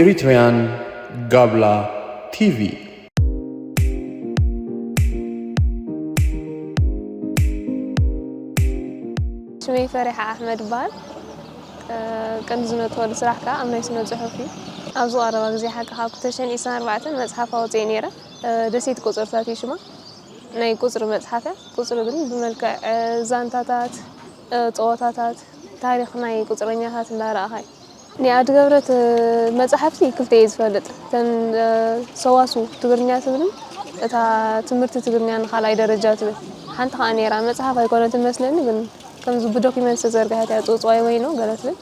Eritrean Gabla TV. ስመይ ፈሪሓ ኣሕመድ ይበሃል ቀንዲ ዝነጥበሉ ስራሕ ከዓ ኣብ ናይ ስነ ፅሑፍ እዩ ኣብዚ ቀረባ ግዜ ሓቂ ካብ ክተሸን ኢስራን ኣርባዕተን መፅሓፍ ኣውፅኤ ነይረ ደሴት ቆፀርታት እዩ ሽማ ናይ ቁጽሪ መጽሓፍ እያ። ቁጽሪ ግን ብመልክዕ ዛንታታት፣ ጸወታታት፣ ታሪኽ ናይ ቁጽረኛታት እንዳረኣኻ እዩ። ናይ ኣዲ ገብረት መጻሕፍቲ ክልተ እየ ዝፈልጥ። እተን ሰዋስው ትግርኛ ትብልን እታ ትምህርቲ ትግርኛ ንካልኣይ ደረጃ ትብል ሓንቲ ከኣ ነይራ። መጽሓፍ ኣይኮነትን መስለኒ ግን ከምዚ ብዶክመንት ዝተዘርግሐት እያ ጽውጽዋይ ወይኖ ገለ ትብል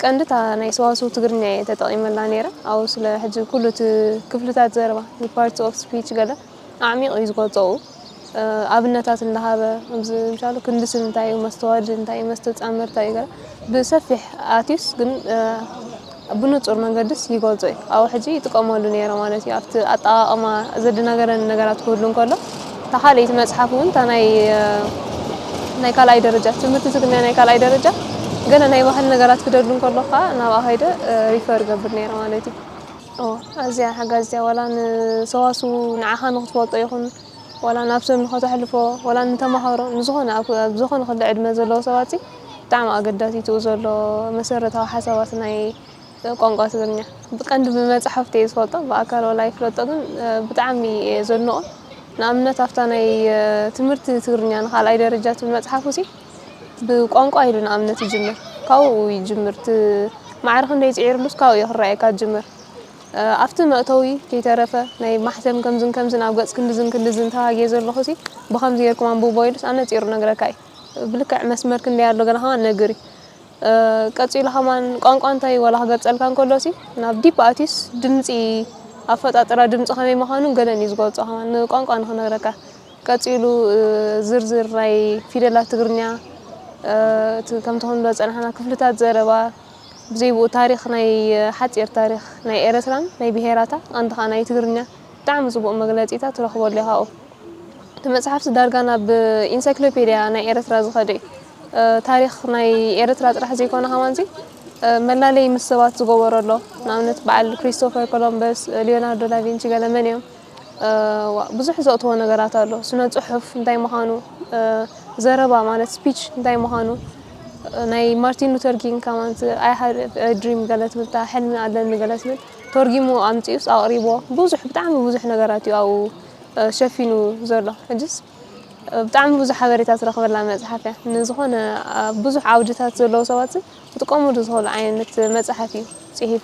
ቀንዲ እታ ናይ ሰዋስው ትግርኛ እየ ተጠቒመላ ነይረ ኣብኡ ስለ ሕጂ ኩሉ እቲ ክፍልታት ዘረባ ፓርትስ ኦፍ ስፒች ገለ ኣዕሚቑ እዩ ዝገልጾኡ ኣብነታት እንዳሃበ ከምዚ ምሳሉ ክንድሲ እንታይ እዩ መስተዋድድ እንታይ እዩ መስተጻምር እንታይ እዩ ብሰፊሕ ኣትዩስ ግን ብንጹር መንገድስ ይገልጾ እዩ ኣብኡ ሕጂ ይጥቀመሉ ነይረ ማለት እዩ ኣብቲ ኣጠቃቕማ ዘደናገረኒ ነገራት ክህሉ እንከሎ እታ ካልኣይቲ መጽሓፍ እውን እታ ናይ ናይ ካልኣይ ደረጃ ትምህርቲ ትግርኛ ናይ ካልኣይ ደረጃ ገለ ናይ ባህል ነገራት ክደሉ እንከሎ ከዓ ናብኣ ከይደ ሪፈር ገብር ነይረ ማለት እዩ ኦህ ኣዝያ ሓጋዚት እያ ዋላ ንሰዋስው ንዓኻ ንኽትፈልጦ ይኹን ዋላ ናብ ሰብ ንኸተሕልፎ ዋላ ንተማሃሮ ንዝኾነ ኣብ ኣብ ዝኾነ ክሊ ዕድመ ዘለዎ ሰባት ብጣዕሚ ኣገዳሲትኡ ዘሎ መሰረታዊ ሓሳባት ናይ ቋንቋ ትግርኛ ብቀንዲ ብመጽሓፍቲ እየ ዝፈልጦ ብኣካል ዋላ ይፍለጦ ግን ብጣዕሚ እየ ዘድንቖ ንኣብነት ኣብታ ናይ ትምህርቲ ትግርኛ ንኻልኣይ ደረጃ ትብል መጽሓፉ ሲ ብቋንቋ ኢሉ ንኣብነት ይጅምር ካብኡ ይጅምር እቲ ማዕረ ክንደይ ጽዒርሉስ ካብኡ እዩ ክረኣየካ ዝጅምር ኣብቲ መእተዊ ከይተረፈ ናይ ማሕተም ከምዝን ከምዝን ኣብ ገጽ ክንድዝን ክንድዝን ተባጊየ ዘለኹ ሲ ብከምዚ ጌርኩም ኣንብቦ ኢሉስ ኣነጺሩ ነግረካ እዩ ብልክዕ መስመር ክንደይ ኣሎ ገለ ከማን ነግር እዩ ቀጺሉ ከማን ቋንቋ እንታይ ወላ ክገልጸልካ እንከሎ ሲ ናብ ዲፕ ኣትዩስ ድምጺ ኣፈጣጥራ ድምጺ ከመይ ምዃኑን ገለን እዩ ዝገልጾ ከማን ንቋንቋ ንክነግረካ ቀጺሉ ዝርዝር ናይ ፊደላት ትግርኛ እቲ ከምቲ ክንብሎ ዝጸናሕና ክፍልታት ዘረባ ብዘይብኡ ታሪኽ ናይ ሓጺር ታሪኽ ናይ ኤረትራን ናይ ብሄራታ ቀንዲ ከኣ ናይ ትግርኛ ብጣዕሚ ጽቡቅ መግለጺታ ትረኽበሉ ኢኻ ኣብኡ እቲ መጽሓፍሲ ዳርጋ ናብ ኢንሳይክሎፔድያ ናይ ኤረትራ ዝኸደ እዩ ታሪኽ ናይ ኤረትራ ጥራሕ ዘይኮነ ከማንዚ መላለይ ምስ ሰባት ዝገበሮ ኣሎ ንኣብነት በዓል ክሪስቶፈር ኮሎምበስ ሊዮናርዶ ዳቪንቺ ገለ መን እዮም ዋእ ብዙሕ ዘእትዎ ነገራት ኣሎ ስነ ጽሑፍ እንታይ ምዃኑ ዘረባ ማለት ስፒች እንታይ ምዃኑ ናይ ማርቲን ሉተር ኪንግ ከማን ኣይ ሃድ ድሪም ገለ ትብል እታ ሕልሚ ኣለኒ ገለ ትብል ተርጊሙ ኣምጺኡስ ኣቕሪቦ ብዙሕ ብጣዕሚ ብዙሕ ነገራት እዩ ኣብኡ ሸፊኑ ዘሎ ሕጅስ ብጣዕሚ ብዙሕ ሓበሬታ ትረኽበላ መጽሓፍ እያ ንዝኾነ ብዙሕ ዓውድታት ዘለዉ ሰባት ክጥቀምሉ ዝኽእሉ ዓይነት መጽሓፍ እዩ ጽሒፉ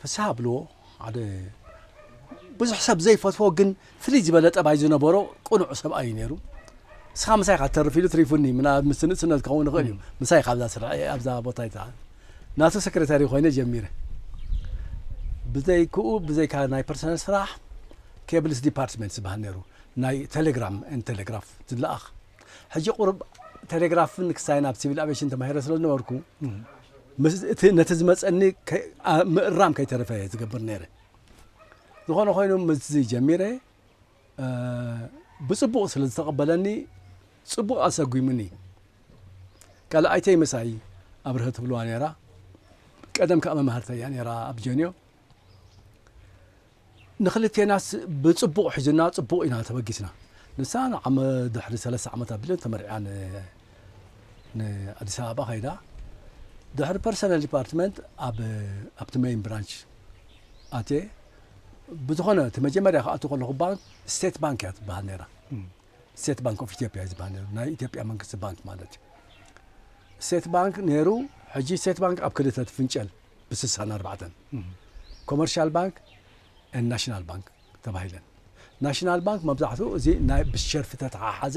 ፍስሃ ብልዎ ሓደ ብዙሕ ሰብ ዘይፈትዎ ግን ፍልይ ዝበለ ጠባይ ዝነበሮ ቅኑዕ ሰብኣይ እዩ ነይሩ ንስኻ ምሳይ ካ ትተርፍ ኢሉ ትሪፉኒ ምናልባት ምስ ንእስነት ክኸውን ይኽእል እዩ ምሳይ ካብዛ ስርዐ ኣብዛ ቦታ ይትዓል ናቱ ሰክሬታሪ ኮይነ ጀሚረ ብዘይክኡ ብዘይካ ናይ ፐርሰናል ስራሕ ኬብልስ ዲፓርትመንት ዝበሃል ነይሩ ናይ ቴሌግራም ን ቴሌግራፍ ዝለኣኽ ሕጂ ቁርብ ቴሌግራፍን ክሳይን ኣብ ሲቪል ኣቬሽን ተማሂረ ስለ ዝነበርኩ ምስ እቲ ነቲ ዝመጸኒ ምእራም ከይተረፈ እየ ዝገብር ነይረ። ዝኾነ ኮይኑ ምስዚ ጀሚረ ብጽቡቕ ስለ ዝተቐበለኒ ጽቡቕ ኣሰጒሙኒ። ካልኣይተይ ምሳይ ኣብርሀ ትብልዋ ነይራ። ቀደም ከኣ መማህርተይ እያ ነይራ ኣብ ጀንዮ። ንክልቴናስ ብጽቡቕ ሒዙና ጽቡቕ ኢና ተበጊስና። ንሳ ንዓመ ድሕሪ ሰለስተ ዓመት ኣቢለን ተመርዕያ ን ን ኣዲስ ኣበባ ከይዳ ድሕሪ ፐርሰነል ዲፓርትመንት ኣብ ኣብቲ መይን ብራንች ኣትየ ብዝኾነ እቲ መጀመርያ ክኣቱ ከለኹ ባንክ ስቴት ባንክ እያ ትበሃል ነይራ ስቴት ባንክ ኦፍ ኢትዮጵያ እዩ ዝበሃል ነይሩ ናይ ኢትዮጵያ መንግስቲ ባንክ ማለት እዩ ስቴት ባንክ ነይሩ ሕጂ ስቴት ባንክ ኣብ ክልተ ትፍንጨል ብስሳን ኣርባዕተን ኮመርሻል ባንክ ን ናሽናል ባንክ ተባሂለን ናሽናል ባንክ መብዛሕትኡ እዚ ናይ ብሸርፊ ተተሓሓዘ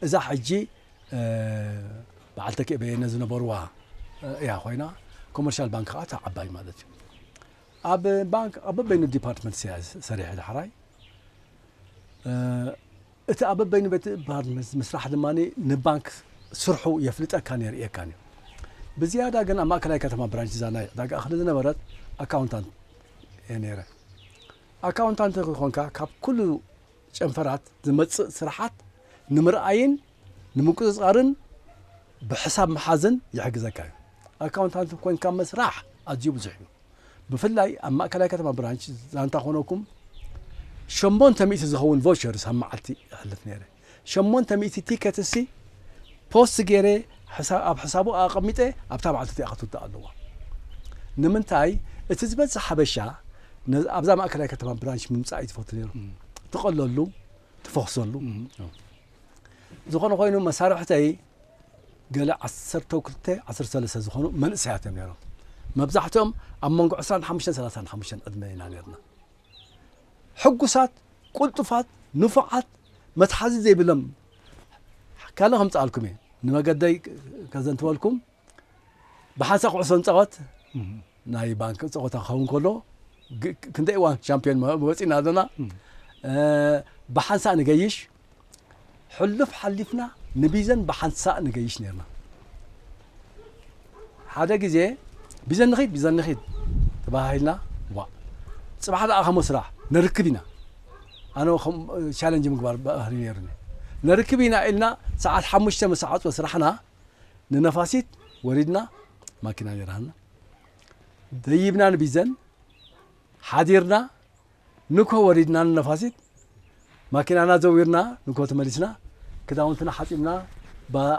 እዛ ሕጂ በዓል ተኪኤ በየነ ዝነበርዋ እያ ኮይና ኮመርሻል ባንክ ከዓ እታ ዓባይ ማለት እዩ ኣብ ባንክ ኣብ በበይኑ ዲፓርትመንት እያ ሰሪሐ ዳሕራይ እቲ ኣብ በበይኑ ቤት ባርነዝ ምስራሕ ድማ ንባንክ ስርሑ የፍልጠካን የርእየካን እዩ። ብዝያዳ ግን ኣብ ማእከላይ ከተማ ብራንች እዛ ናይ ዕዳጋ እኽሊ ዝነበረት ኣካውንታንት እየ ነይረ። ኣካውንታንት ከይኮንካ ካብ ኩሉ ጨንፈራት ዝመጽእ ስራሓት ንምርኣይን ንምቁጽጻርን ብሕሳብ ምሓዝን ይሕግዘካ እዩ። ኣካውንታንት ኮይንካ ምስራሕ ኣዝዩ ብዙሕ እዩ። ብፍላይ ኣብ ማእከላይ ከተማ ብራንች ዛንታ ኮነኩም ሸሞንተ ሚእቲ ዝኸውን ቮቸርስ ኣብ መዓልቲ ይሕልፍ ነይረ ሸሞንተ ሚእቲ ቲከት ሲ ፖስት ገይረ ኣብ ሕሳቡ ኣቐሚጠ ኣብታ መዓልቲ እቲኣ ክትውዳእ ኣለዋ ንምንታይ እቲ ዝበዝሕ ሓበሻ ኣብዛ ማእከላይ ከተማ ብራንች ምምፃእ እዩ ዝፈቱ ነይሩ ትቐለሉ ትፈኽሰሉ ዝኾነ ኮይኑ መሳርሕተይ ገለ ዓሰርተው ክልተ ዓሰርተ ሰለስተ ዝኾኑ መንእሰያት እዮም ነይሮም። መብዛሕትኦም ኣብ መንጎ ዕስራን ሓሙሽተን ሰላሳን ሓሙሽተን ዕድመ ኢና ነርና። ሕጉሳት፣ ቁልጡፋት፣ ንፉዓት፣ መትሓዚ ዘይብሎም ካልእ ከምጽኣልኩም እየ ንመገደይ ከዘንትወልኩም ብሓንሳ ኩዕሶ ንጻወት ናይ ባንኪ ፀወታ ክኸውን ከሎ ክንደይ እዋን ሻምፒዮን ወፂና ኣለና ብሓንሳእ ንገይሽ ሕሉፍ ሓሊፍና ንቢዘን ብሓንሳእ ንገይሽ ነርና ሓደ ግዜ ቢዘን ንኺድ ቢዘን ንኺድ ተባሂልና ዋ ፅባሕ ደኣ ከሞ ስራሕ ነርክብ ኢና ኣነ ቻለንጅ ምግባር ባህሪ ነይሩኒ ነርክብ ኢና ኢልና ሰዓት ሓሙሽተ መሳዓፅወ ስራሕና ንነፋሲት ወሪድና ማኪና ነይራና ደይብና ንቢዘን ሓዲርና ንኮ ወሪድና ንነፋሲት ማኪናና ዘዊርና ንኮ ተመሊስና ክዳውንትና ሓፂብና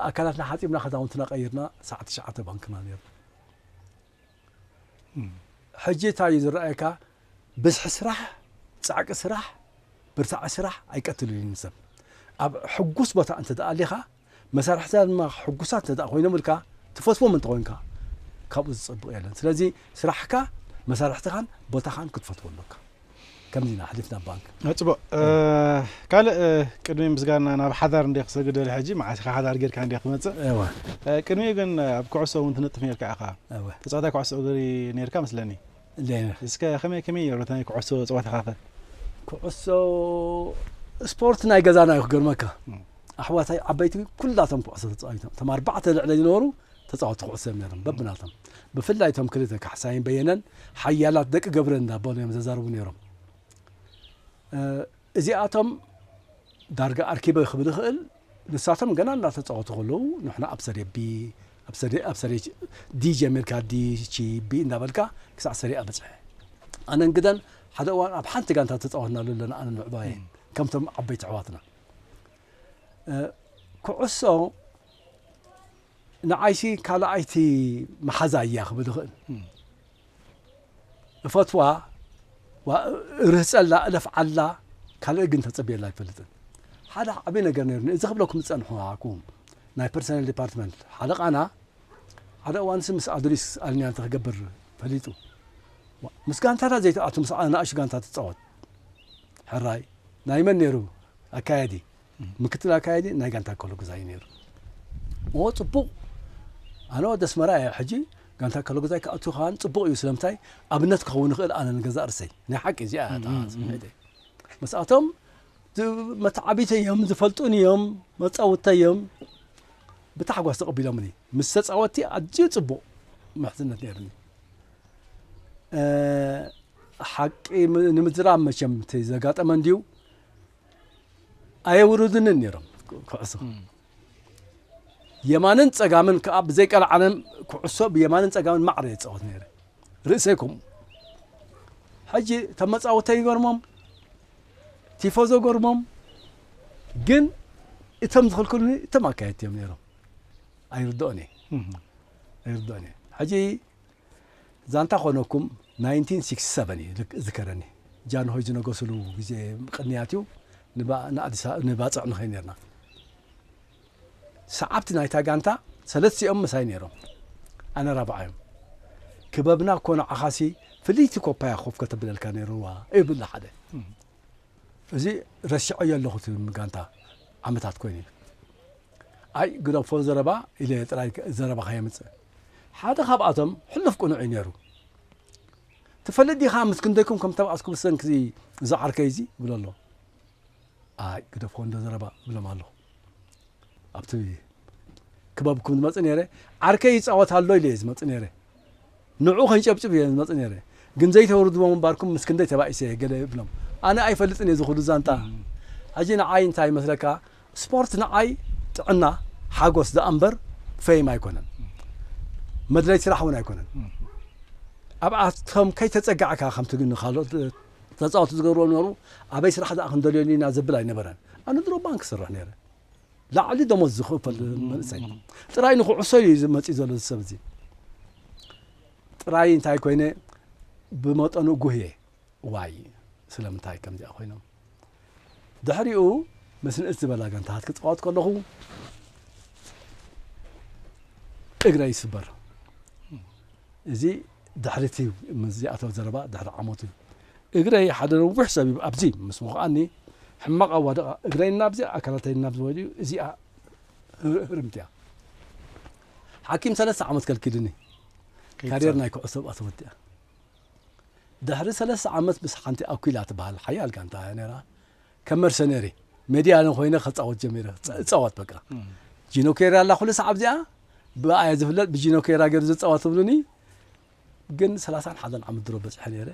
ኣካላትና ሓፂብና ክዳውንትና ቀይርና ሰዓት ትሽዓተ ባንክና ነርና ሕጂ እንታይ እዩ ዝረኣየካ ብዝሒ ስራሕ ፃዕቂ ስራሕ ብርታዐ ስራሕ ኣይቀትልልን ሰብ ኣብ ሕጉስ ቦታ እንተ ኣሊኻ መሳርሕትና ድማ ሕጉሳት እንተድኣ ኮይኖም ኢልካ ትፈትዎም እንተኾይንካ ካብኡ ዝጸብቕ የለን። ስለዚ ስራሕካ፣ መሳርሕትኻን ቦታኻን ክትፈትዎ ኣሎካ። ከምዚ ኢና ኣሕሊፍና ባንክ። ጽቡቕ ካልእ ቅድሚ ምስጋና ናብ ሓዳር እንደ ክሰግድ ደልየ ሕጂ መዓስ ኢኻ ሓዳር ጌርካ እንደ ክመጽእ እወ ቅድሚኡ ግን ኣብ ኩዕሶ እውን ትነጥፍ ኔርካ ኢኻ ተጻዋታይ ኩዕሶ እግሪ ኔርካ መስለኒ ሌነር እስከ ከመይ ከመይ ነይሩ ናይ ኩዕሶ ፀወታኻ ከ? ኩዕሶ ስፖርት ናይ ገዛና እዩ ክገርመካ ኣሕዋታይ ዓበይቲ ኩላቶም ኩዕሶ ተፃዊቶም እቶም ኣርባዕተ ልዕለ ዝነበሩ ተፃወቲ ኩዕሶ እዮም ነይሮም በብናቶም ብፍላይ እቶም ክልተ ካሕሳይን በየነን ሓያላት ደቂ ገብረ እንዳበሉ እዮም ዘዛርቡ ነይሮም እዚኣቶም ዳርጋ ኣርኪበ ክብል ይኽእል ንሳቶም ገና እንዳተጻወቱ ከለዉ ንሕና ኣብ ሰሬ ቢ ኣብ ሰሬ ኣብ ሰሬ ዲ ጀሚርካ ዲ ቺ ቢ እንዳበልካ ክሳዕ ሰሬ ኣ በጽሐ ኣነን ግደን ሓደ እዋን ኣብ ሓንቲ ጋንታ ተጻወትናሉ ኣለና ኣነን ምዕባየን ከምቶም ዓበይቲ ኣሕዋትና ኩዕሶ ንዓይሲ ካልኣይቲ መሓዛይ እያ ክብል ይኽእል። እፈትዋ፣ እርህጸላ፣ እለፍዓላ፣ ካልእ ግን ተጸብየላ ኣይፈልጥን። ሓደ ዓብዪ ነገር ነይሩኒ እዚ ክብለኩም ዝጸንሑ ኣኩም ናይ ፐርሰናል ዲፓርትመንት ሓለቃና ሓደ እዋንሲ ምስ ኣዱሊስ ኣልኒያ ክገብር ፈሊጡ ምስ ጋንታታት ዘይትኣቱ ምስ ኣናእሹ ጋንታ ትፃወት ሕራይ ናይ መን ነይሩ ኣካያዲ ምክትል ኣካያዲ ናይ ጋንታ ከሎጉዛ እዩ ነይሩ ኦ ጽቡቅ ኣነ ወዲ ኣስመራ እየ ሕጂ ጋንታ ከሎጉዛይ ክኣቱ ከኣ ጽቡቅ እዩ ስለምንታይ ኣብነት ክኸውን ይኽእል ኣነ ንገዛእ ርሰይ ናይ ሓቂ እዚኣ ስምዒተይ መስኣቶም መተዓቢተይ እዮም ዝፈልጡን እዮም መጻውተይ እዮም ብታሕጓስ ተቐቢሎምኒ ምስ ተጻወቲ ኣዝዩ ጽቡቕ ምሕዝነት ነይሩኒ ሓቂ ንምዝራብ መቸም ዘጋጠመ እንድዩ ኣየውርዱንን ነይሮም ኩዕሶ የማንን ጸጋምን ከዓ ብዘይ ቀልዓለም ኩዕሶ ብየማንን ጸጋምን ማዕረ የፃወት ነይረ ርእሰይ ከምኡ ሕጂ እቶም መፃወተ ይገርሞም ቲፎዞ ገርሞም ግን እቶም ዝኽልክሉኒ እቶም ኣካየድቲ እዮም ነይሮም ኣይርድኦን እየ ኣይርድኦን እየ ሕጂ ዛንታ ኮነኩም ናይንቲን ሲክስቲ ሰቨን እዩ ዝከረኒ ጃንሆይ ዝነገስሉ ግዜ ቅንያት እዩ ንባጽዕ ንኸይ ነርና ሰዓብቲ ናይታ ጋንታ ሰለስቲኦም ምሳይ ነይሮም ኣነ ራብዓዮም ክበብና እኮ ንዓኻሲ ፍልይቲ ኮፓያ ኮፍ ከተብለልካ ነይርዋ ይብል ሓደ እዚ ረሲዐዮ ኣለኹ ትም ጋንታ ዓመታት ኮይኑ እዩ ኣይ ግደፎ ዘረባ ኢለ ጥራይ ዘረባኻ የምፅእ ሓደ ካብኣቶም ሕሉፍ ቅኑዕ እዩ ነይሩ። ትፈልጥ ዲኻ ምስ ክንደይኩም ከም እተባኣስኩ ብሰንኪ'ዚ እዚ ዓርከይ'ዚ? ይብሎ ኣሎ። ኣይ ግደፎ እንዶ ዘረባ እብሎም ኣለኹ። ኣብቲ ክበብኩም ዝመጽእ ነይረ ዓርከይ ይጻወት ኣሎ ኢለ'የ ዝመጽእ ነይረ። ንዕኡ ከንጨብጭብ እየ ዝመጽእ ነይረ። ግን ዘይተውርድዎ ምንባርኩም ምስ ክንደይ ተባኢሰ እየ ገለ እብሎም። ኣነ ኣይፈልጥን እየ እዚ ኹሉ ዛንታ። ሕጂ ንዓይ እንታይ ይመስለካ ስፖርት ንዓይ ጥዕና፣ ሓጎስ ደኣምበር ፈይም ኣይኮነን። መድለይቲ ስራሕ እውን ኣይኮነን። ኣብኣቶም ከይተጸጋዕካ ከምቲ ግን ንካልኦት ተጻወቲ ዝገብርዎ ዝነበሩ ኣበይ ስራሕ ደኣ ክንደልዮሉ ኢና ዘብል ኣይነበረን። ኣነ ድሮ ባንክ እሰርሕ ነይረ። ላዕሊ ደሞዝ ዝኽፈል መንእሰይ። ጥራይ ንኹዕሶ እዩ መጺኡ ዘሎ እዚ ሰብ እዚ። ጥራይ እንታይ ኮይነ ብመጠኑ ጉህየ። ዋይ ስለምንታይ ከምዚኣ ኮይኖም። ድሕሪኡ ምስ ንእስ ዝበላ ጋንታታት ክጻወት ከለኹ እግረይ ይስበር። እዚ ድሕሪ እቲ ምስ ዚኣተወ ዘረባ ድሕሪ ዓመት እዩ። እግረይ ሓደ ነዊሕ ሰብ እዩ ኣብዚ ምስ ወቕኣኒ ሕማቕ ኣዋድቓ እግረይ ናብዚ ኣካላተይ ናብዚ ወዲኡ እዚኣ ህርምት እያ። ሓኪም ሰለስተ ዓመት ከልኪሉኒ ካርየር ናይ ኩዕሶ ተወዲኣ። ድሕሪ ሰለስተ ዓመት ምስ ሓንቲ ኣኲላ ትበሃል ሓያል ጋንታ እያ ነይራ ከም መርሰነሪ ሜድያነ ኮይነ ከፃወት ጀሚረ እፃወት በቃ ጂኖ ኬራ ኣላ ኩሉ ሰዓብ እዚኣ ብኣ እየ ዝፍለጥ ብጂኖ ኬራ ገይሩ ዝፃወት ትብሉኒ ግን ሰላሳን ሓደን ዓመት ድሮ በፅሐ ነይረ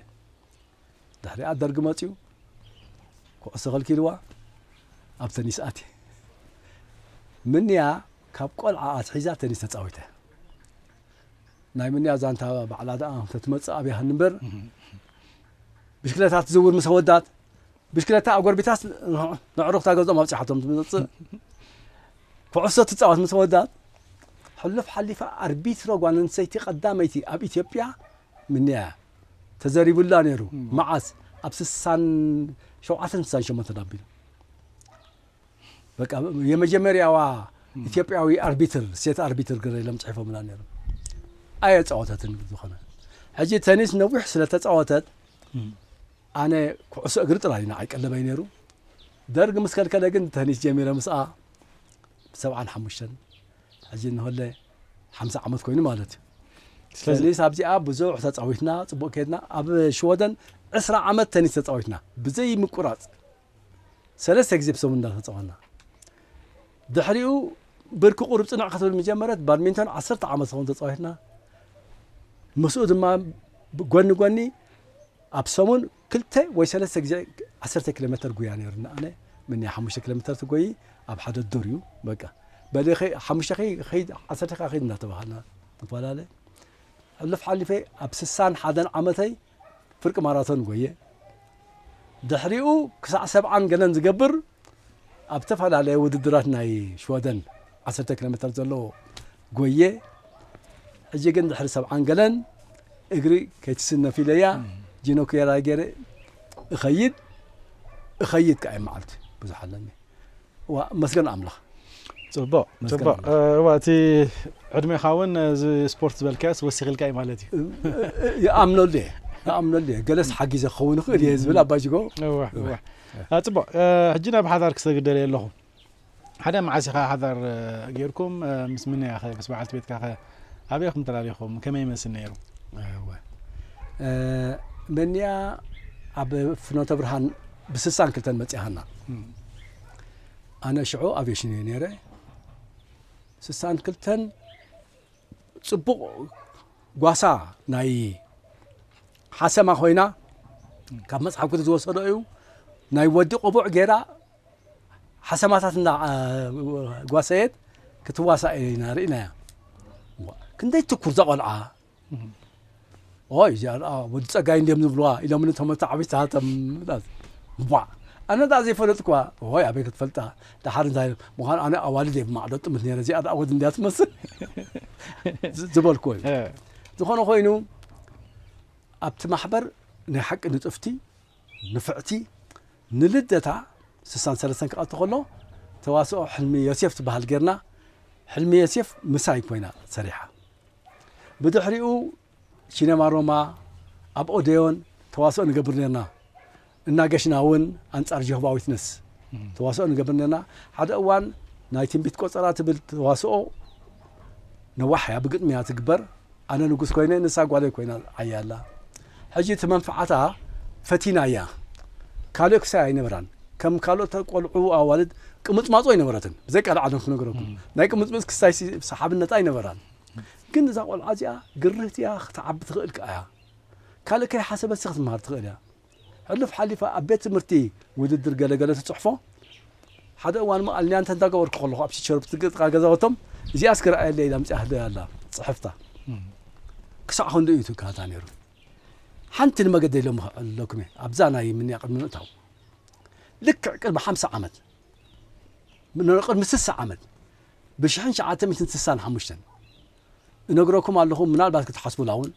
ድሕሪኣ ደርጊ መፅኡ ኩዕሶ ከልኪልዋ ኣብ ተኒስ ኣትየ ምንያ ካብ ቆልዓ ኣትሒዛ ተኒስ ተፃዊተ ናይ መንያ ዛንታ ባዕላ ደኣ እንተትመጽእ ኣብያህኒ እምበር ብሽክለታ ትዝውር ምስ ኣወዳት ብሽክለታ ኣጎርቢታስ ነዕሩኽታ ገዝኦም ኣብጽሓቶም ትመጽእ ኩዕሶ ትጻወት ምስ ኣወዳት ሕሉፍ ሓሊፋ ኣርቢትሮ ጓል ኣንስተይቲ ቀዳመይቲ ኣብ ኢትዮጵያ ምንያ እያ ተዘሪቡላ ነይሩ መዓስ ኣብ ስሳን ሸውዓተን ስሳን ሸሞንተን ኣቢሉ በቃ የመጀመርያዋ ኢትዮጵያዊ ኣርቢትር ሴት ኣርቢትር ገረ ኢሎም ጽሒፎምላ ነይሮም ኣየጻወተትን ዝኾነ ሕጂ ተኒስ ነዊሕ ስለተጻወተት ኣነ ኩዕሶ እግሪ ጥራይ ንዓይ ቀለበይ ነይሩ ደርግ ምስ ከልከለ ግን ተኒስ ጀሚረ ምስኣ ብሰብዓን ሓሙሽተን ሕጂ እንሆለ ሓምሳ ዓመት ኮይኑ ማለት እዩ ስለዚ ኣብዚኣ ብዙሕ ተፃዊትና ፅቡቅ ከድና ኣብ ሽወደን ዕስራ ዓመት ተኒስ ተፃዊትና ብዘይ ምቁራፅ ሰለስተ ግዜ ብሰሙን እንዳተጻወትና። ድሕሪኡ ብርኪ ቁሩብ ጽንዕ ክትብል ምጀመረት፣ ባድሚንቶን ዓሰርተ ዓመት ዝኸውን ተጻዊትና። ምስኡ ድማ ጎኒ ጎኒ ኣብ ሰሙን ክልተ ወይ ሰለስተ ግዜ ዓሰርተ ኪሎ ሜተር ጉያ ነይሩኒ ኣነ ምንያ ሓሙሽተ ኪሎ ሜተር ትጎይ ኣብ ሓደ ዱር እዩ በቃ በሊ ሓሙሽተ ከይድ ዓሰርተ ከይድ እንዳተባሃልና ንፈላለ ሕሉፍ ሓሊፈ ኣብ ስሳን ሓደን ዓመተይ ፍርቂ ማራቶን ጎየ። ድሕሪኡ ክሳዕ ሰብዓን ገለን ዝገብር ኣብ ዝተፈላለየ ውድድራት ናይ ሽወደን ዓሰርተ ኪሎ ሜተር ዘሎ ጎየ። ሕጂ ግን ድሕሪ ሰብዓን ገለን እግሪ ከይትስነፍ ኢለያ ጂኖ ክየራይ ገይረ እኸይድ እኸይድ ከዓ መዓልቲ ብዙሕ ኣለኒ ዋእ መስገን ኣምላኽ ጽቡቅ ጽቡቅ እዋ እቲ ዕድሜኻ እውን እዚ ስፖርት ዝበልካዮስ ወሲኽ ኢልካ እዩ ማለት እዩ ይኣምነሉ እየ ይኣምነሉ እየ ገለስ ሓጊዘ ክኸውን ይኽእል እየ ዝብል ኣባ ጅጎ ጽቡቅ ሕጂ ናብ ሓዳር ክሰግድ ደልየ ኣለኹ ሓደ መዓስ ኢኻ ሓዳር ጌርኩም ምስ ምንያ ኸ ምስ በዓልቲ ቤትካ ኸ ኣበይኹም ተላሊኹም ከመይ ይመስል ነይሩ መንያ ኣብ ፍኖተ ብርሃን ብስሳን ክልተን መጺኻና ኣነ ሽዑ ኣቬሽን እየ ነይረ ስሳን ክልተን ጽቡቕ ጓሳ ናይ ሓሰማ ኮይና ካብ መጽሓፍ ቅዱስ ዝወሰዶ እዩ ናይ ወዲ ቆቡዕ ገይራ ሓሰማታት እንዳ ጓሰየት ክትዋሳእ ኢና ርኢናያ ክንደይ ትኩር ዘቆልዓ ኦይ እዚኣ ደኣ ወዲ ጸጋይ እንድዮም ዝብልዋ ኢሎምኒ እቶም ኣተዓብይቲ ሃብተም ቧዕ ኣነ ደኣ ዘይፈለጥክዋ ኦይ ኣበይ ክትፈልጣ ደሓር እንታይ ምዃኑ ኣነ ኣዋልድ እየ ብማዕዶ ጥምት ነረ እዚኣ ደኣ ወዲ እንድያ ትመስል ዝበልኩ እዩ ዝኾነ ኮይኑ ኣብቲ ማሕበር ናይ ሓቂ ንጥፍቲ ንፍዕቲ ንልደታ ስሳን ሰለስተን ክቐቲ ከሎ ተዋስኦ ሕልሚ ዮሴፍ ትበሃል ጌርና ሕልሚ ዮሴፍ ምሳይ ኮይና ሰሪሓ ብድሕሪኡ ሲነማ ሮማ ኣብ ኦደዮን ተዋስኦ ንገብር ነርና። እናገሽና እውን ኣንጻር ጀሆቫ ዊትነስ ተዋስኦ ንገብር ነርና። ሓደ እዋን ናይ ትንቢት ቆጸራ ትብል ተዋስኦ ነዋሕ እያ ብግጥሚ እያ ትግበር። ኣነ ንጉስ ኮይነ ንሳ ጓለይ ኮይና ዓያ ኣላ። ሕጂ እቲ መንፍዓታ ፈቲናያ ካልእ ክሳይ ኣይነበራን ከም ካልኦት ቆልዑ ኣዋልድ ቅምጽማጹ ኣይነበረትን ብዘይካ ላዕለን ክነግረኩም ናይ ቅምጽምጽ ክሳይሲ ሰሓብነት ኣይነበራን ግን እዛ ቆልዓ እዚኣ ግርህቲ እያ ክትዓቢ ትኽእል ከኣ እያ ካልእ ከይሓሰበትሲ ክትመሃር ትኽእል እያ ሕሉፍ ሓሊፋ ኣብ ቤት ትምህርቲ ውድድር ገለ ገለ ትጽሕፎ ሓደ እዋን መኣል ኒያንተ እንዳገበርኩ ከለኹ ኣብ ቺቸሮ ብትግ ጥቃ ገዛወቶም እዚኣ እስኪ ረኣየለይ ኢላ ኣምጺኣ ህደያ ኣላ ጽሕፍታ ክሳዕ ክንድኡ እዩ ትካታ ነይሩ ሓንቲ ንመገደይ ሎሚ ክዕልለኩም እየ ኣብዛ ናይ ምንያ ቅድሚ ምእታው ልክዕ ቅድሚ ሓምሳ ዓመት ቅድሚ ስሳ ዓመት ብሽሕን ሸዓተ ሚትን ስሳን ሓሙሽተን እነግረኩም ኣለኹ ምናልባት ክትሓስቡላ እውን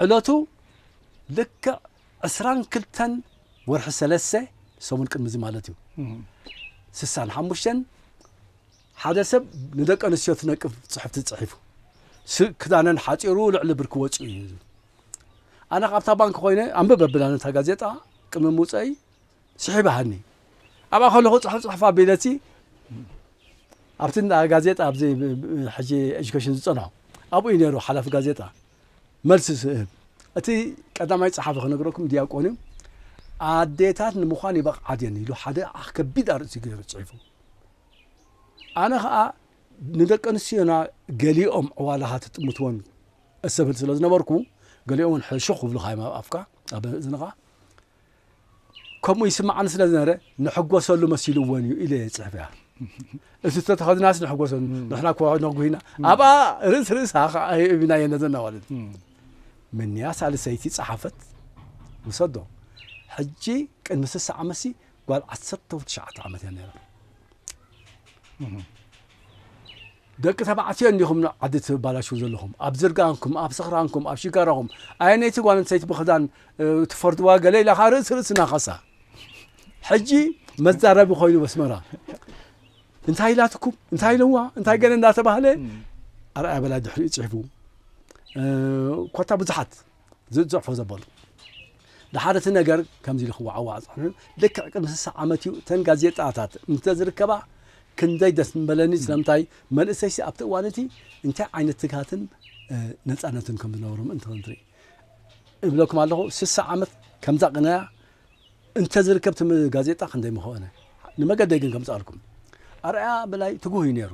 ዕለቱ ልክዕ ዕስራን ክልተን ወርሒ ሰለስተ፣ ሰሙን ቅድሚ እዚ ማለት እዩ፣ ስሳን ሓሙሽተን ሓደ ሰብ ንደቂ ኣንስትዮ ትነቅፍ ጽሑፍቲ ጽሒፉ ክዳነን ሓጺሩ ልዕሊ ብርኪ ወጺኡ እዩ። ኣነ ካብታ ባንክ ኮይነ ኣንብብ ኣቢላ ነታ ጋዜጣ ቅድሚ ምውፀኢ ስሒባሃኒ ኣብኣ ከለኹ ፅሑፍ ፅሑፍ ኣቢለቲ ኣብቲ እንዳ ጋዜጣ ኣብዚ ሕጂ ኤጁኬሽን ዝፀንሖ ኣብኡ እዩ ነይሩ ሓላፊ ጋዜጣ መልሲ ስእብ እቲ ቀዳማይ ጸሓፊ ክነግረኩም ድያቆን እዩ ኣዴታት ንምዃን ይበቕዓ ድየን ኢሉ ሓደ ከቢድ ኣርእስቲ ገይሩ ጽሒፉ ኣነ ኸኣ ንደቂ ኣንስትዮና ገሊኦም ዕዋላኻ ትጥምትወን እሰብል ስለ ዝነበርኩ ገሊኦም ሕሹኽ ክብሉኻ እዮም ኣብ ኣፍካ ኣብ እዝንኻ ከምኡ ይስምዓኒ ስለ ዝነበረ ንሕጎሰሉ መሲልዎን እዩ ኢለ የፅሕፍ እያ እቲ ዝተተኸድናስ ንሕጎሰሉ ንሕና ክወ ነጉሂና ኣብኣ ርእስ ርእሳ ከዓ እብና የነዘና ማለት ምንያ ሳልሰይቲ ፀሓፈት ውሰዶ ሕጂ ቅድሚ ስሳ ዓመትሲ ጓል ዓሰርተ ትሽዓተ ዓመት እያ ነይራ ደቂ ተባዕትዮ እንዲኹም ን ዓዲ ትባላሽዉ ዘለኹም ኣብ ዝርጋንኩም ኣብ ስኽራንኩም ኣብ ሽጋራኹም ኣየነይቲ ጓል ኣንስተይቲ ብኽዳን ትፈርድዋ ገለ ኢላ ከኣ ርእሲ ርእሲ ናኸሳ ሕጂ መዛረቢ ኮይኑ በስመራ እንታይ ኢላትኩም እንታይ ኢለዋ እንታይ ገለ እንዳተባህለ ኣርኣያ በላይ ድሕሪኡ ጽሒፉ ኮታ ብዙሓት ዝጽሕፎ ዘበሉ። ደሓር እቲ ነገር ከምዚ ኢሉ ክወዓዋዕ ጸኒሑ፣ ልክዕ ቅድሚ ስሳ ዓመት እዩ፣ እተን ጋዜጣታት እንተ ዝርከባ ክንደይ ደስ ምበለኒ፣ ስለምንታይ መንእሰይሲ ኣብቲ እዋን እቲ እንታይ ዓይነት ትግሃትን ነጻነትን ከም ዝነበሮ ምእንቲ ክንርኢ። እብለኩም ኣለኹ ስሳ ዓመት ከምዛ ቅነያ እንተ ዝርከብ እቲ ጋዜጣ ክንደይ ምኾነ። ንመገደይ ግን ከምጽኣልኩም ኣርኣያ በላይ ትጉህ እዩ ነይሩ።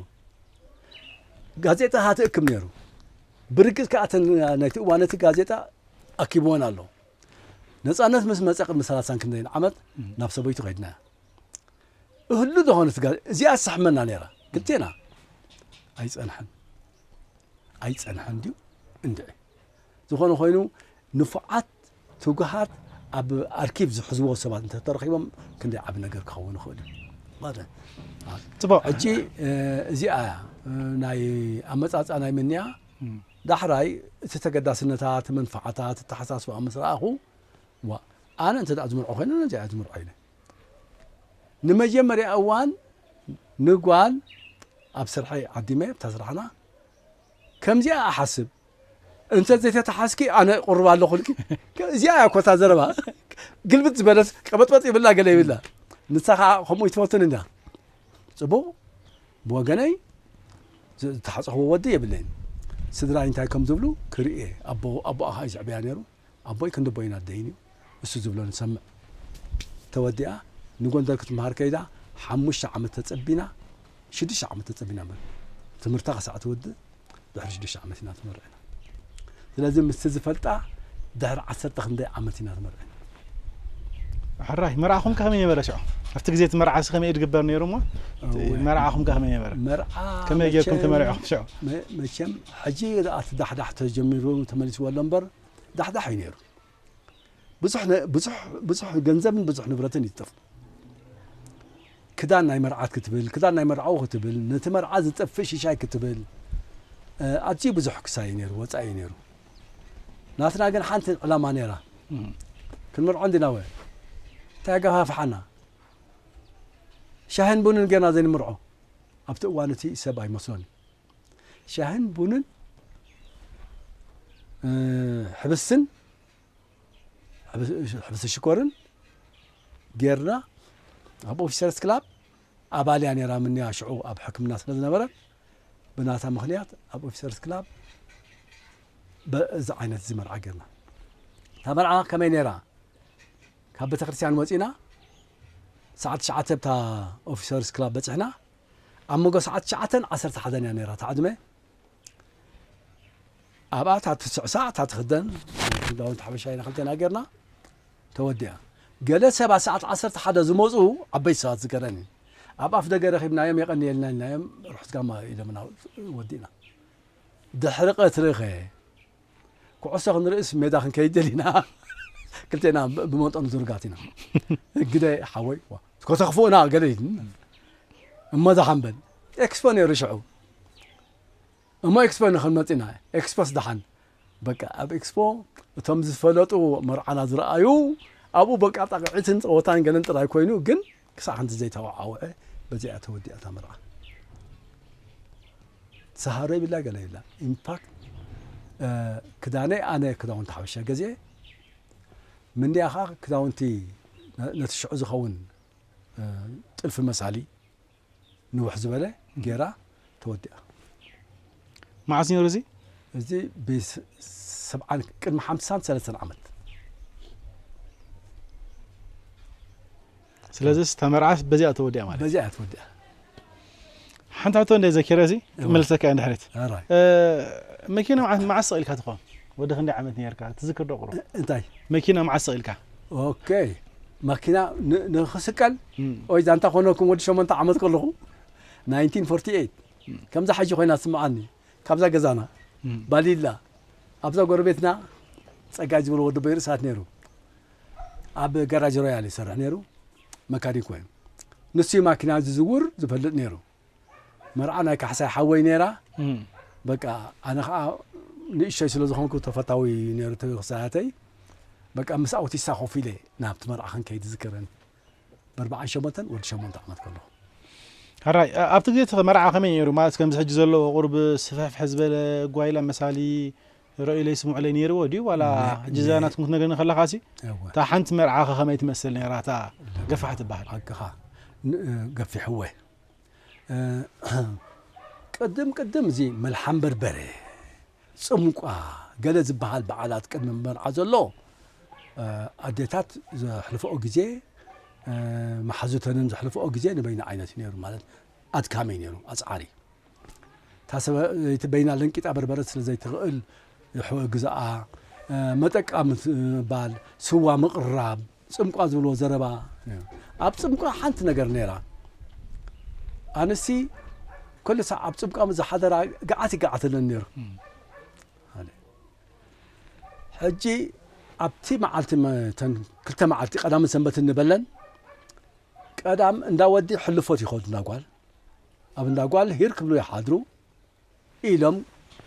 ጋዜጣ ሃትእክብ ነይሩ። ብርግጽ ከኣ እተን ናይቲ እዋን ነቲ ጋዜጣ ኣኪብወን ኣሎ። ነጻነት ምስ መጸ ቅድሚ ሰላሳን ክንደይን ዓመት ናብ ሰበይቱ ከይድና እህሉ ዝኾነ እቲ ጋዜጣ እዚኣስ ትሕመና ነይራ ክልቴና ኣይጸንሐን ኣይጸንሐን ድዩ እንድዒ ዝኾነ ኮይኑ ንፉዓት ትጉሃት ኣብ ኣርኪቭ ዝሕዝዎ ሰባት እንተተረኺቦም ክንደይ ዓቢ ነገር ክኸውን ይኽእል እዩ። ማለት ጽቡቅ ሕጂ እዚኣ ናይ ኣመጻጻ ናይ ምንያ ዳሕራይ እቲ ተገዳስነታ እቲ መንፈዓታ እቲ ተሓሳስባ ምስ ረኣኹ ዋ ኣነ እንተ ዝምርዖ ኮይኑ ነዚኣ ዝምርዖ ኢለ ንመጀመርያ እዋን ንጓል ኣብ ስርሐይ ዓዲመ ኣብታ ስራሕና ከምዚኣ እሓስብ እንተ ዘይተታሓዝኪ ኣነ ቁሩብ ኣለኹልኪ እዚኣ እያ እኮ እታ ዘረባ ግልብጥ ዝበለት ቀበጥበጥ ይብላ ገለ ይብላ ንሳ ከዓ ከምኡ ይትፈትን እንዳ ፅቡቅ ብወገነይ ዝተሓፀኽዎ ወዲ የብለይን ስድራይ እንታይ ከም ዝብሉ ክርኢ ኣቦ ኣቦኣ ከዓ እዩ ዝዕበያ ነይሩ ኣቦይ ክንዲ ኣቦይን ኣደይን እዩ እሱ ዝብሎ ንሰምዕ ተወዲኣ ንጎንደር ክትምሃር ከይዳ ሓሙሽተ ዓመት ተጸቢና ሽዱሽተ ዓመት ተጸቢና በል ትምህርታ ክሳዕ ትውድእ ድሕሪ ሽዱሽተ ዓመት ኢና ትመርዕና ስለዚ ምስቲ ዝፈልጣ ድሕሪ ዓሰርተ ክንደይ ዓመት ኢና ትመርዕና ሕራይ መርዓኹም ከ ከመይ ነበረ ሽዑ ኣብቲ ግዜ እቲ መርዓ ሲ ከመይ ድግበር ነይሩ እሞ መርዓኹም ከ ከመይ ነበረ መርዓ ከመይ ጌርኩም ተመሪዕኹም ሽዑ መቸም ሕጂ ደኣ እቲ ዳሕዳሕ ተጀሚሩ ተመሊስዎ ኣሎ እምበር ዳሕዳሕ እዩ ነይሩ። ብዙሕ ገንዘብን ብዙሕ ንብረትን እዩ ዝጠፍእ። ክዳን ናይ መርዓት ክትብል፣ ክዳን ናይ መርዓዊ ክትብል፣ ነቲ መርዓ ዝጠፍእ ሽሻይ ክትብል ኣዝዩ ብዙሕ ክሳይ እዩ ነይሩ፣ ወጻኢ እዩ ነይሩ። ናትና ግን ሓንቲ ዕላማ ነይራ፣ ክንመርዖ እንዲናወ እንታይ ገፋፍሓና? ሻሂን ቡንን ጌርና ዘይንምርዖ ኣብቲ እዋን እቲ ሰብ ኣይመስሎን እዩ። ሻህን ቡንን ሕብስን ሕብስ ሽኮርን ጌርና ኣብ ኦፊሰርስ ክላብ ኣባልያ ነራ ምንያ ሽዑ ኣብ ሕክምና ስለ ዝነበረ ብናታ ምክንያት ኣብ ኦፊሰርስ ክላብ በዚ ዓይነት እዚ መርዓ ጌርና እታ መርዓ ከመይ ነራ ካብ ቤተ ክርስቲያን ወፂና ሰዓት ትሽዓተ ብታ ኦፊሰርስ ክላብ በፅሕና ኣብ መጎ ሰዓት ትሽዓተን ዓሰርተ ሓደን እያ ነይራ እታ ዕድመ ኣብኣ እታ ትስዕ ሳዕ እታ ትክደን ክዳውንቲ ሓበሻ ኢና ክልተና ጌርና ተወዲኣ ገለ ሰባ ሰዓት ዓሰርተ ሓደ ዝመፁ ዓበይቲ ሰባት ዝገረን እዩ ኣብ ኣፍ ደገ ረኺብናዮም የቐንየልና ኢልናዮም ርሑት ጋማ ኢሎምና ወዲእና ድሕሪ ቀትሪ ኸ ኩዕሶ ክንርእስ ሜዳ ክንከይድ ደሊና ክልቴና ብመጠኑ ዝርጋት ኢና ግደ ሓወይ ከተኽፍኡና ገለ እሞ ደሓን በል ኤክስፖ ነይሩ ሽዑ እሞ ኤክስፖ ንክንመፅና ኤክስፖስ ደሓን በቃ ኣብ ኤክስፖ እቶም ዝፈለጡ መርዓና ዝረኣዩ ኣብኡ በቃ ጣቅዒትን ፀወታን ገለን ጥራይ ኮይኑ ግን ክሳዕ ክንዲ ዘይተወዓውዐ በዚኣ እያ ተወዲኣ እታ መርዓ ሰሃሮ ይብላ ገለ ይብላ ኢንፋክት ክዳነይ ኣነ ክዳውንቲ ሓበሻ ገዚኤ ምንያ ከዓ ክዳውንቲ ነቲ ሽዑ ዝኸውን ጥልፊ መሳሊ ንውሕ ዝበለ ጌራ ተወዲኣ። መዓስ ነይሩ እዚ? እዚ ብ ሰብዓን ቅድሚ ሓምሳን ሰለስተን ዓመት። ስለዚስ እታ መርዓስ በዚኣ እያ ተወዲኣ ማለት እዩ። በዚኣ እያ ተወዲኣ። ሓንቲ ሕቶ እንደ ዘኪረ እዚ ክመልሰካ እየ ንድሕሪት። ኣራይ። መኪና መዓስ መዓስ ሰቒልካ ትኾን? ወዲ ክንደይ ዓመት ነርካ ትዝክር ዶ ቁሩብ? እንታይ መኪና መዓስ ሰቂልካ? ኦኬ መኪና ንክስቀል ወይ ዛንታ ኮነኩም ወዲ ሸሞንተ ዓመት ከለኹ 1948 ከምዛ ሓጂ ኮይና ትስምዓኒ ካብዛ ገዛና ባሊላ ኣብዛ ጎረቤትና ጸጋይ ዝብሎ ወዲ በይ ርእሳት ነይሩ ኣብ ጋራጅ ሮያል ይሰርሕ ነይሩ መካኒክ ኮይኑ ንሱ ማኪና ዝዝውር ዝፈልጥ ነይሩ መርዓ ናይ ካሕሳይ ሓወይ ነይራ በቃ ኣነ ከዓ ንእሸይ ስለ ዝኾንኩ ተፈታዊ ነይሩ እቲ ክሳያተይ በቃ ምስ ኣውቲሳ ኮፍ ኢለ ናብቲ መርዓ ክንከይድ ዝዝክርን በርበዓን ሸሞንተን ወዲ ሸሞንተ ዓመት ከለኹ ሕራይ ኣብቲ ግዜ እቲ መርዓ ከመይ ነይሩ ማለት ከምዚ ሕጂ ዘለዎ ቁርብ ስፍሕፍሕ ዝበለ ጓይላ መሳሊ ረእዩለይ ስምዑለይ ነይርዎ ድዩ ዋላ ሕጂ እዛ ናትኩም ክትነግረኒ ከለኻሲ እታ ሓንቲ መርዓኸ ከመይ ትመስል ነይራ እታ ገፋሕ ትበሃል ሓቅኻ ገፊሕወ ቅድም ቅድም እዚ መልሓም በርበረ ፅምቋ ገለ ዝበሃል በዓላት ቅድሚ መርዓ ዘሎ ኣዴታት ዘሕልፈኦ ግዜ መሓዙተንን ዘሕልፈኦ ግዜ ንበይኑ ዓይነት እዩ ነይሩ ማለት ኣድካሚ እዩ ነይሩ ኣፅዓሪ እታ ሰበይቲ በይና ለንቂጣ በርበረ ስለ ዘይትኽእል ይሕወግዝኣ፣ መጠቃ ምባል፣ ስዋ ምቕራብ፣ ጽምቋ ዝብልዎ ዘረባ ነይሩ። ኣብ ጽምቋ ሓንቲ ነገር ነይራ። ኣነሲ ኩሉ ሳዕ ኣብ ጽምቋ ምስ ዝሓደራ ገዓት ይገዓተለን ነይሩ። ሕጂ ኣብቲ መዓልቲ ተን ክልተ መዓልቲ ቀዳምን ሰንበትን ንበለን ቀዳም እንዳ ወዲ ሕልፎት ይኸዱ እንዳ ጓል ኣብ እንዳ ጓል ሂር ክብሉ ይሓድሩ ኢሎም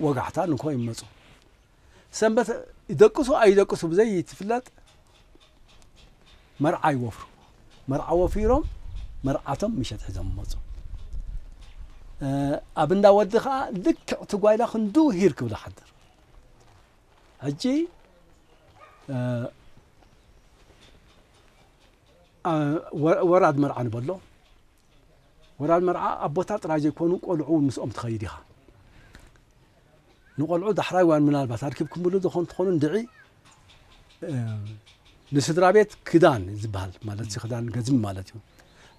ወጋሕታ ንግሆ ይመፁ። ሰንበት ይደቅሱ ኣይደቅሱ ብዘይትፍለጥ መርዓ ይወፍሩ። መርዓ ወፊሮም መርዓቶም ምሸት ሒዞም መፁ። ኣብ እንዳ ወዲ ከዓ ልክዕ እቲ ጓይላ ክንዱ ሂር ክብሉ ሓድር ሕጂ ወራድ መርዓ ንበሎ ወራል መርዓ ኣቦታት ጥራይ ዘይኮኑ ቆልዑ ውን ምስኦም ትኸይድ ኢኻ። ንቆልዑ ዳሕራይ ዋን ምናልባት ኣርኪብክምሉ ዝኾን ትኾኑ እንድዒ ንስድራ ቤት ክዳን ዝበሃል ማለት ክዳን ገዝሚ ማለት እዩ።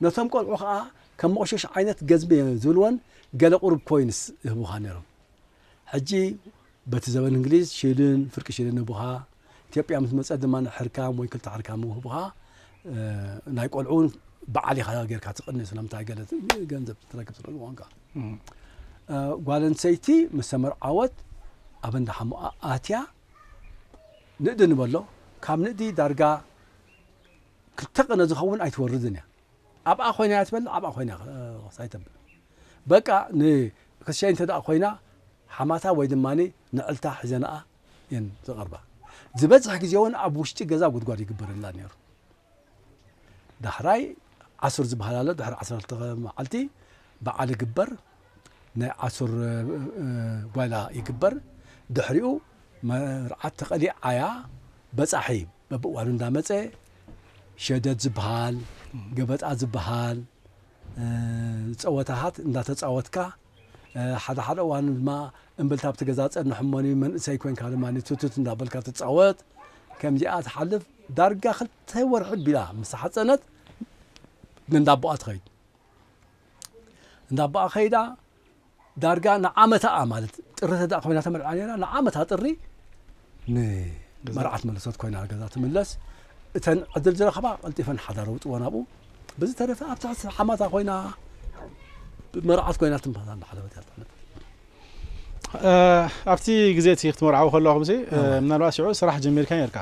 ነቶም ቆልዑ ከኣ ከም መቑሸሽ ዓይነት ገዝሚ ዝብልወን ገለ ቁሩብ ኮይንስ ይህቡኻ ነይሮም። ሕጂ በቲ ዘበን እንግሊዝ ሽድን ፍርቂ ሽድን ህቡኻ፣ ኢትዮጵያ ምስ መጸት ድማ ሕርካም ወይ ክልተ ሕርካም ህቡኻ፣ ናይ ቆልዑ ውን በዓል ኢኻ ጌርካ ትቕኒ ስለምንታይ ገለ ገንዘብ ትረክብ ስለ ዝኾንካ ጓል ኣንሰይቲ ምስ ተመርዓወት ኣብ እንዳ ሓሙኣ ኣትያ ንእዲ ንበሎ ካብ ንእዲ ዳርጋ ክልተ ቅነ ዝኸውን ኣይትወርድን እያ ኣብኣ ኮይና እያ ትበልዕ ኣብኣ ኮይና ክሳይ ተብል በቃ ንክሸይ እንተ ኮይና ሓማታ ወይ ድማ ንዕልታ ሒዘንኣ እየን ዝቐርባ ዝበዝሕ ግዜ እውን ኣብ ውሽጢ ገዛ ጉድጓድ ይግበረላ ነይሩ ዳሕራይ ዓሱር ዝበሃል ኣሎ ድሕሪ ዓሰርተ መዓልቲ በዓል ግበር ናይ ኣሱር ጓይላ ይግበር ድሕሪኡ መርዓት ተቀሊዓያ በጻሒ በብእዋኑ እንዳመጸ ሸደድ ዝብሃል ገበጣ ዝብሃል ጸወታታት እንዳተጻወትካ ሓደ ሓደ እዋን ድማ እምብልታ ኣብቲ ገዛ ጸንሕ እሞኒ መንእሰይ ኮንካ ድማ ቱቱት እንዳበልካ ትጻወት ከምዚኣ ትሓልፍ ዳርጋ ክልተ ወርሒ ቢላ ምስ ሓጸነት ንእንዳ ኣቦኣ ትኸይድ እንዳ ኣቦኣ ከይዳ ዳርጋ ንዓመታኣ ማለት ጥሪ ተዳእ ኮይና ተመርዓ ነራ ንዓመታ ጥሪ ንመርዓት መለሰት ኮይና ገዛ ትምለስ እተን ዕድል ዝረኸባ ቀልጢፈን ሓዳር ውጥወን ኣብኡ ብዝተረፈ ኣብ ትሕቲ ሓማታ ኮይና መርዓት ኮይና ትንፋሳ እናሓለበት እያ ትቕንብ ኣብቲ ግዜ እቲ ክትመርዓዊ ከለኹም ምናልባት ሽዑ ስራሕ ጀሚርካ ነርካ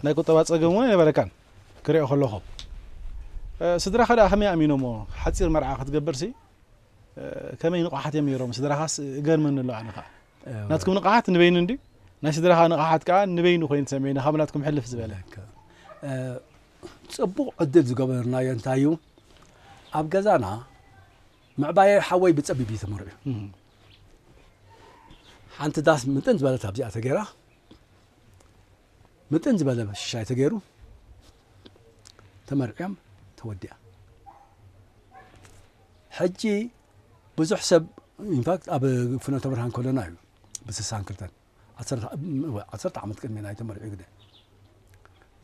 ናይ ቁጠባ ፀገም እውን ኣይነበረካን ክሪኦ ከለኩ ስድራካ ደኣ ከመይ ኣሚኖሞ ሓጺር መርዓ ክትገብርሲ ከመይ ንቕሓት እዮም ነይሮም ስድራካስ እገርመኒ ኣሎ ኣነ ከኣ ናትኩም ንቕሓት ንበይኑ እንዲ ናይ ስድራካ ንቕሓት ከኣ ንበይኑ ኮይኑ ተሰሚዕኒ ካብ ናትኩም ሕልፍ ዝበለ ጽቡቕ ዕድል ዝገበርናዮ እንታይ እዩ ኣብ ገዛና ምዕባየ ሓወይ ብጸቢብ እዩ ተመርዑ ሓንቲ ዳስ ምጥን ዝበለት ኣብዚኣ ተገይራ ምጥን ዝበለ ሽሻይ ተገይሩ ተመርዕዮም ተወዲኣ ሕጂ ብዙሕ ሰብ ኢንፋክት ኣብ ፍኖተ ብርሃን ከሎና እዩ ብስሳን ክልተን ዓሰርተ ዓመት ቅድሚ ናይ ተመርዒ ግደ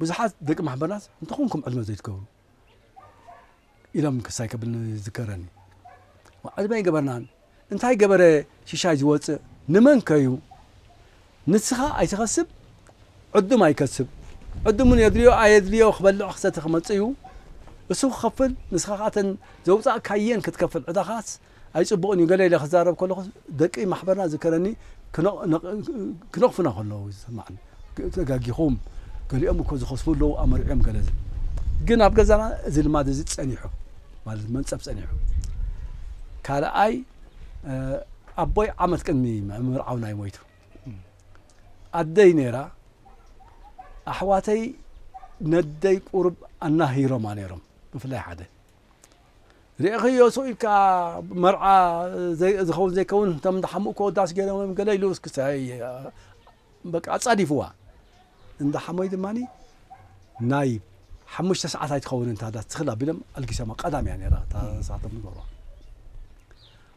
ብዙሓት ደቂ ማሕበራት እንተኾንኩም ዕድመ ዘይትገብሩ ኢሎም ክሳይ ክብል ዝከረኒ ዋዕዝባ ኣይገበርናን እንታይ ገበረ ሽሻይ ዝወፅእ ንመን ከዩ ንስኻ ኣይትኸስብ ዕዱም ኣይከስብ ዕዱሙን የድልዮ ኣየድልዮ ክበልዕ ክሰተ ክመፅእ እዩ እሱ ክኸፍል ንስኻ ካተን ዘውፃእካየን ክትከፍል ዕዳኻስ ኣይጽቡቕን እዩ ገለ ኢለ ክዛረብ ከለኹ ደቂ ማሕበርና ዝከረኒ ክነቕፉና ከለዉ ዝስማዓኒ ተጋጊኹም ገሊኦም እኮ ዝኸስቡ ኣለዉ ኣመርዕዮም ገለ ዝብል ግን ኣብ ገዛና እዚ ልማድ እዚ ጸኒሑ ማለት መንጸፍ ጸኒሑ ካልኣይ ኣቦይ ዓመት ቅድሚ ምርዓውና እዩ ሞይቱ ኣደይ ነይራ ኣሕዋተይ ነደይ ቁርብ ኣናሂሮማ ነይሮም ብፍላይ ሓደ ርኤኽዮ ሱቅ ኢልካ መርዓ ዝኸውን ዘይከውን እቶም እንዳ ሓምኡ ከወዳስ ገይሮም ገለ ኢሉ እስኪ በቃ ኣጻዲፍዋ እንዳ ሓሞይ ድማ ናይ ሓሙሽተ ሰዓት ኣይትኸውን እንታ ዳስ ትኽል ኣቢሎም ኣልጊሶማ ቀዳም እያ ነራ እታ ሰዓቶም ዝገብራ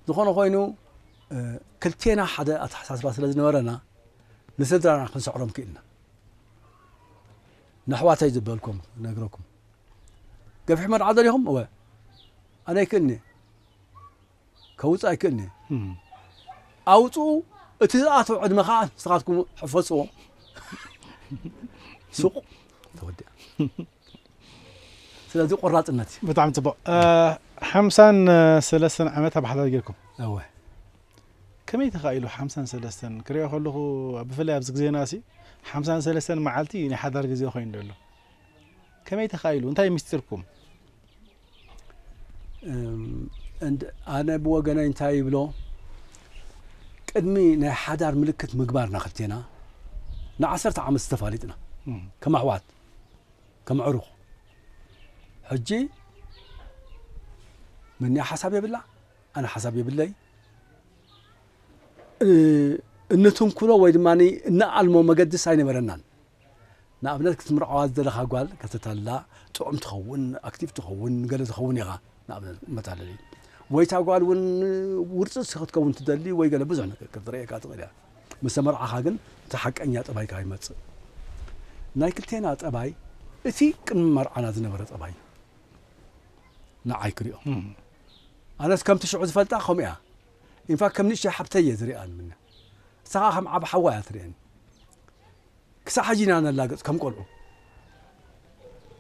ዝኾነ ኮይኑ ክልቴና ሓደ ኣተሓሳስባ ስለ ዝነበረና ንስድራና ክንስዕሮም ክኢልና ነሕዋተይ ዝበልኩም ነግረኩም ገፊሕ መርዓ ደሊኹም እወ ኣነ ኣይክእልኒ ከውፅእ ኣይክእልኒ ኣውፅኡ እቲ ዝኣተው ዕድመ ከዓ ንስኻትኩም ሕፈፅዎ ሱቅ ተወዲኣ ስለዚ ቆራፅነት እዩ ብጣዕሚ ፅቡቅ ሓምሳን ሰለስተን ዓመት ኣብ ሓዳር ጌርኩም እወ ከመይ ተኻኢሉ ሓምሳን ሰለስተን ክሪኦ ከለኹ ብፍላይ ኣብዚ ግዜና ሲ ሓምሳን ሰለስተን መዓልቲ ናይ ሓዳር ግዜ ኮይኑ ዘሎ ከመይ ተኻኢሉ እንታይ ምስጢርኩም ኣነ ብወገነይ እንታይ ይብሎ ቅድሚ ናይ ሓዳር ምልክት ምግባርና ክልቴና ንዓሰርተ ዓመት ዝተፋሊጥና ከም ኣሕዋት ከም ዕሩኽ ሕጂ ምንያ ሓሳብ የብላ ኣነ ሓሳብ የብለይ እንትንኩሎ ወይ ድማ እንኣልሞ መገድስ ኣይነበረናን ንኣብነት ክትምርዓዋ ዝደለኻ ጓል ከተታልላ ጥዑም ትኸውን ኣክቲቭ ትኸውን ንገለ ትኸውን ኢኻ ንኣብነት መታለሊ ወይ እታ ጓል እውን ውርፅፅ ክትከውን ትደሊ ወይ ገለ ብዙሕ ነገር ክትርእየካ ትኽእል እያ ምስ ተመርዓኻ ግን እቲ ሓቀኛ ጠባይካ ይመፅእ ናይ ክልቴና ጠባይ እቲ ቅድሚ መርዓና ዝነበረ ጠባይ እዩ ንዓይ ክሪኦ ኣነስ ከምቲ ሽዑ ዝፈልጣ ከምኡ እያ ኢንፋክት ከም ንእሽተይ ሓብተይ እየ ዝሪኣ ንምነ ንሳ ከዓ ከም ዓብ ሓዋ እያ ትርእየኒ ክሳዕ ሕጂ ኢና ነላግጽ ከም ቆልዑ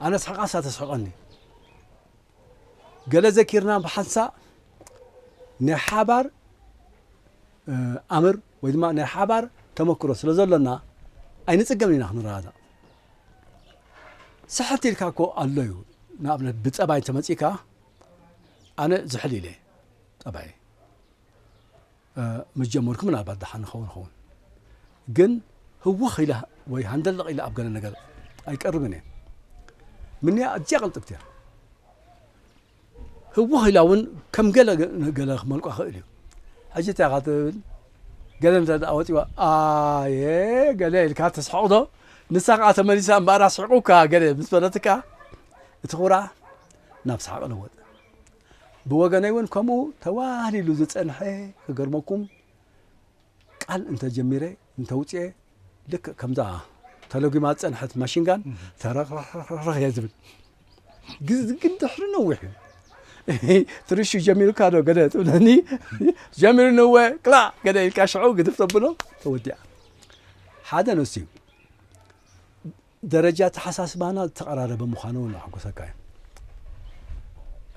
ኣነ ስሕቃ ንሳ ተስሕቀኒ ገለ ዘኪርና ብሓንሳእ ናይ ሓባር ኣምር ወይ ድማ ናይ ሓባር ተመክሮ ስለ ዘሎና ኣይንጽገምን ኢና ክንረዳዳእ ስሕት ኢልካ እኮ ኣሎ እዩ ንኣብነት ብጸባይ እንተመጺእካ ኣነ ዝሕል ኢለ ጠባይ ምስ ጀመርኩ ምናልባት ደሓን ንኸውን ኸውን ግን ህወኽ ኢለ ወይ ሃንደለቕ ኢለ ኣብ ገለ ነገር ኣይቀርብን እየ ምንያ ኣዝያ ቅልጥብቲ እያ ህወኽ ኢላ እውን ከም ገለ ገለ ክመልቋ ክእል እዩ ሕጂ እንታይ ኢኻ ትብል ገለ እንተ ደኣ ወፂዋ ኣየ ገለ ኢልካ ተስሕቕዶ ንሳ ከዓ ተመሊሳ እምበኣር ኣስሒቑካ ገለ ምስ በለትካ እቲ ኩራ ናብ ሰሓቕ ለወጥ ብወገነይ ውን ከምኡ ተዋህሊሉ ዝጸንሐ ክገርመኩም ቃል እንተ ጀሚረ እንተ ውጽኤ ልክእ ከምዛ ተለጒማ ዝጸንሐት ማሽንጋን ተረኽረኽረኽ እየ ዝብል ግን ድሕሪ ነዊሕ እዩ ትርሹ ጀሚሩካ ዶ ገለ ትብለኒ ጀሚሩ ንወ ክላ ገለ ኢልካ ሽዑ ግድፍ ተብሎ ተወዲኣ ሓደ ነሱ እዩ ደረጃ ኣተሓሳስባና ዝተቐራረበ ምዃኑ እውን ኣሕጎሰካ እዩ።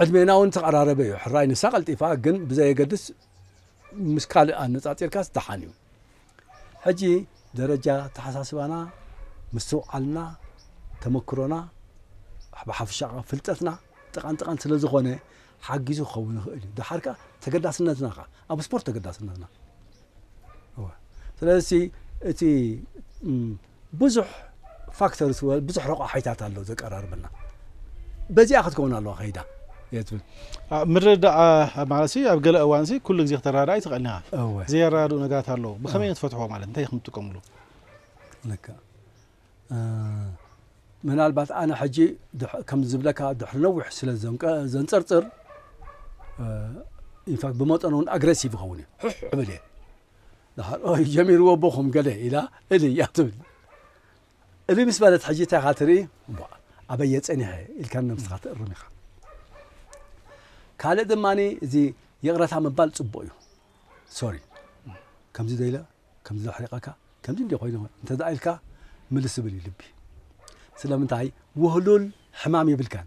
ዕድሜና እውን ዝተቐራረበ እዩ። ሕራይ ንሳ ቀልጢፋ ግን ብዘየገድስ ምስ ካልእ ኣነጻጺርካስ ደሓን እዩ። ሕጂ ደረጃ ኣተሓሳስባና፣ ምስትውዓልና፣ ተመክሮና ብሓፈሻ ከኣ ፍልጠትና ጥቓን ጥቓን ስለ ዝኾነ ሓጊዙ ክኸውን ይኽእል እዩ። ደሓር ከኣ ተገዳስነትና ከኣ ኣብ ስፖርት ተገዳስነትና ስለዚ እቲ ብዙሕ ፋክተርስ ወ ብዙሕ ረቋሒታት ኣሎ ዘቀራርበና በዚኣ ክትከውን ኣለዋ ከይዳ እየ ትብል ኣብ ምርድዳእ ኣብ ማለት ሲ ኣብ ገለ እዋን ሲ ኩሉ ግዜ ከተረዳእ ኣይትኽእልን ኢኻ እወ ዘየረዳድኡ ነገራት ኣለዉ ብኸመይ ኢና ትፈትሕዎ ማለት እንታይ ኢኹም ትጥቀምሉ ልክዕ እ፣ ምናልባት ኣነ ሕጂ ድሕ- ከም ዝብለካ ድሕሪ ነዊሕ ስለ ዘንቀ- ዘንጸርጽር ኢንፋክት ብመጠኑ እውን ኣግሬሲቭ ይኸውን እዩ ሕሕ እብል እየ ንኻልኦይ ጀሚርዎ እቦ ኹም ገለ ኢላ እልይ እያ ትብል እልይ ምስ በለት ሕጂ እንታይ ኢኻ ትርኢ እሞ ኣበይ እየ ጸኒሐ ኢልካ ነብስኻ ትእርም ኢኻ ካልእ ድማ እዚ ይቕረታ ምባል ጽቡቕ እዩ ሶሪ ከምዚ ዶ ኢለ ከምዚ ዶ ሕሪቐካ ከምዚ እንዲ ኮይኑ እንተ ኢልካ ምልስ ዝብል እዩ ልቢ ስለምንታይ ውህሉል ሕማም የብልካን